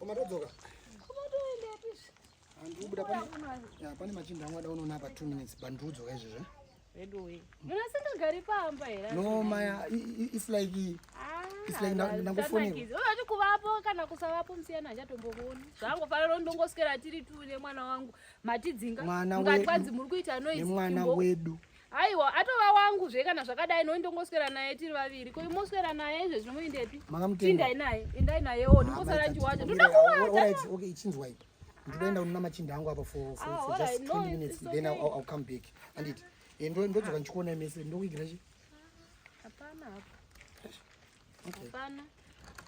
Umatodzoka? Umatoenda pisi. Andikubuda pani. Ya pani machinda angu ada unoona pa 2 minutes bandudzoka izvezvo. Eh? Vedu we. Muna singagari pamba here? No maya it's like ah, it's like ndangofona. Unati kuvapo kana kusavapo musiyana achatombokuona. Zvangu fanira ndongoswera tiri tu nemwana wangu. Matidzinga. Mukati kwanzi muri kuita noise. Mwana wedu. aiwa atova wangu zve kana zvakadai noi ndongoswera naye tiri vaviri ko imoswera naye izvezvi nomuindepi tindai naye endai nayewo ah, ndimbosara ndichiwacha ndoda kuwacha chinzwai ndoenda unona machinda angu apa for ah, just 20 minutes then i'll come back anditi eh, ndodzoka ndichikuonai mese ndokuigira chi hapana hapa Hapana.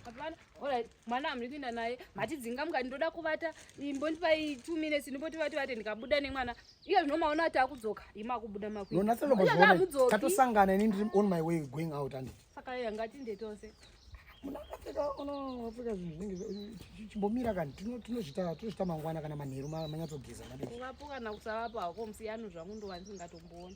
Hapana. Alright, mwana amri kuenda naye. Matidzinga mukati ndoda kuvata. Imbondipai 2 minutes ndipoti vati vate ndikabuda nemwana. Iye zvinomaona ati akudzoka. Ima akubuda makuita. Nona sero bozvona. Tatosangana ini ndiri on my way going out and. Saka yanga tinde tose. Munakapfeka ono wapfeka zvinhu zvinenge chimbomira kani tinozvita tinozvita mangwana kana manheru manyatsogeza madii. Ungapo kana kusavapa hako musiyano zvangu ndowani ndingatomboona.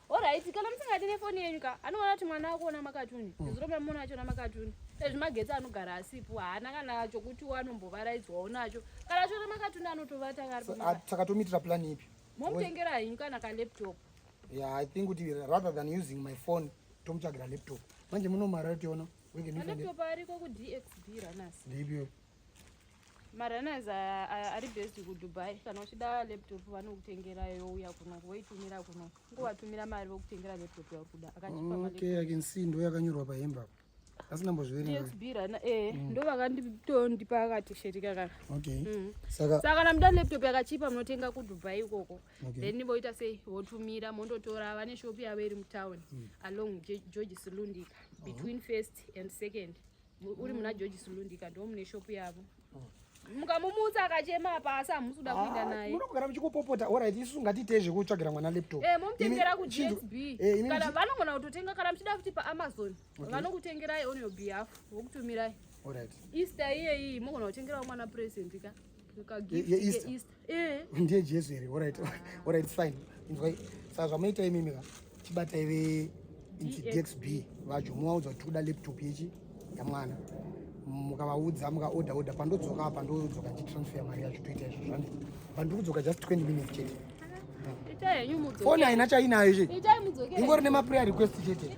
Alright, kana musingadi nefoni yenyu ka anoona kuti mwana wako ona makatuni mm. zuro mamona acho ona makatuni ezvi magetsi anogara asipo haana kana chokuti wanombovaraidzwawo nacho kana achiona makatuni anotovata karisaka tomitira plan ipi momutengera henyu kana kalaptop yeah i think kuti rather than using my phone tomutsvagira laptop manje munomara tiona laptop ariko kudxb ranasi ndipio marunners ari best kudubai kana uchida laptop vanokutengera youya kuno voitumira kuno ngovatumira mari vokutengera laptop yauri kuda akachipaokay ican see ndo yakanyorwa pahembe apo asi ndambozviverengaxbirana e eh, mm. ndo vakanditondipa akatisheti kakaka okay mm. saka saka kana muda laptop yakachipa munotenga kudubai ikoko then voita sei votumira mondotora vane shop yavo iri mutown mm. along george slundika between first and second uri muna george sulundika ndo mune shopu yavo mukamumutsa akachema apa asi hamusi kuda kuenda ah, naye munogara muchikupopota orit isu ngatiitei zvekutsvagira mwana laptop eh, momutengera kugsb eh, kana vanogona kutotenga kana muchida futi paamazon vanokutengerai on your behalf vokutumirai orit easter iyeyi mogona kutengerawo mwana present ka eh. ndiye jesu here orit orit fine inzwai saka zvamunoita imimi ka chibatai veincidxb vacho muvaudza kuti tikuda laptop yechi yamwana mukavaudza mukaoda oda pandodzoka apa ndodzoka ndichitransfer mari yacho toita izvo zvani pandiri kudzoka just 20 minutes chete foni haina chainayo che ingori nemaprayer request chete